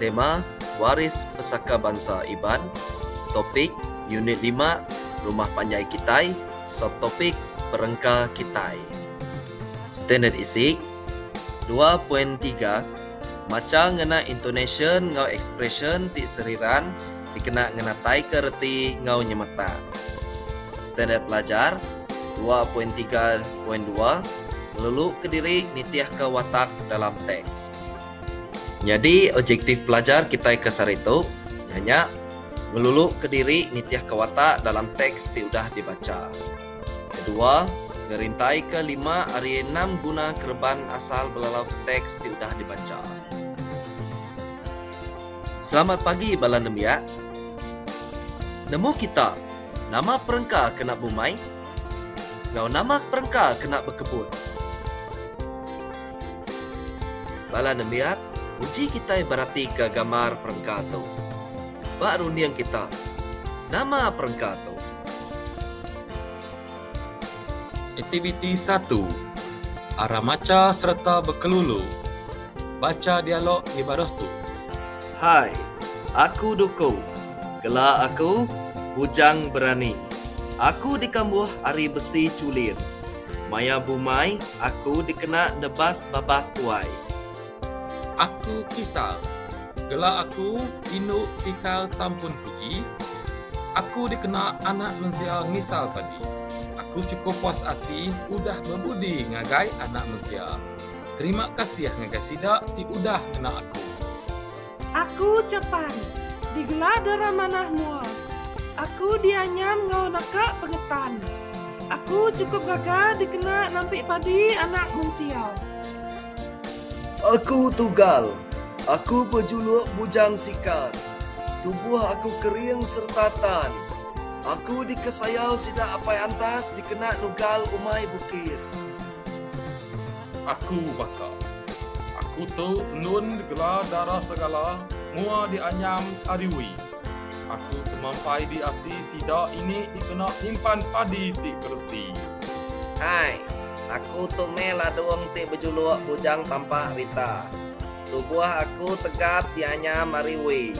Tema, Waris Pesaka Bansa Iban Topik, Unit lima, Rumah Panjai Kitai Subtopik, Perengka Kitai Standard Isi, dua poin tiga Macha ngena intonasyen enggau ekspresyen ti seriran dikena ngenataika reti enggau nyemetak Standard Pelajar dua poin tiga poin dua Ngeluluka diri nitihka watak dalam teks. Nyadi objektif pelajar kitai ke sehari tu iya nya ngeluluka diri nitihka watak dalam teks ti udah dibacha. Kedua, ngerintaika lima ari enam guna kereban asal belalauka teks ti udah dibacha. Selamat pagi bala nembiak. Nemu kita, nama perengka kena bumai enggau nama perengka kena bekebut? Bala nembiak, uji kitai beratika gambar perengka tu. Ba runding kita, nama perengka tu? Aktiviti satu, Ara macha sereta bekelulu. Bacha dialog di baruh tu. Hai, aku Duku. Gela aku Bujang Berani. Aku dikambuh ari besi chulin. Maya bumai, aku dikena nebas babas tuai. Aku kisal. Gela aku indu sikal tampun kuji. Aku dikena anak mensia ngisal padi. Aku chukup puas ati udah bebudi ngagai anak mensia. Terima kasih ngagai sida ti udah ngena aku. Aku Chapan, digelar dara manah mua. Aku dianyam enggau naka pengetan. Aku chukup gaga dikena nampik padi anak mensia. Aku Tugal, aku bejuluk Bujang Sikar. Tubuh aku kering sereta tan. Aku dikesayau sida Apai Antas dikena nugal umai bukit. Aku baka. Aku tu endun digela Dara Segala mua dianyam ari Wee. Aku semampai diasi sida ini dikena nyimpan padi ti beresi. Hai. Aku tu meh Ladung ti bejuluk Bujang Tampak Rita. Tubuh aku tegap dianyam ari Wee.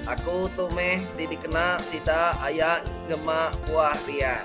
Aku tu meh ti dikena sida aya ngema buah rian.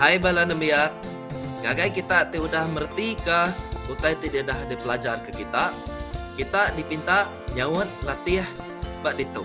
Hai bala nembiak, ngagai kita ti udah meretika utai ti didah dipelajarka kita, kita dipinta nyaut latih ba ditu.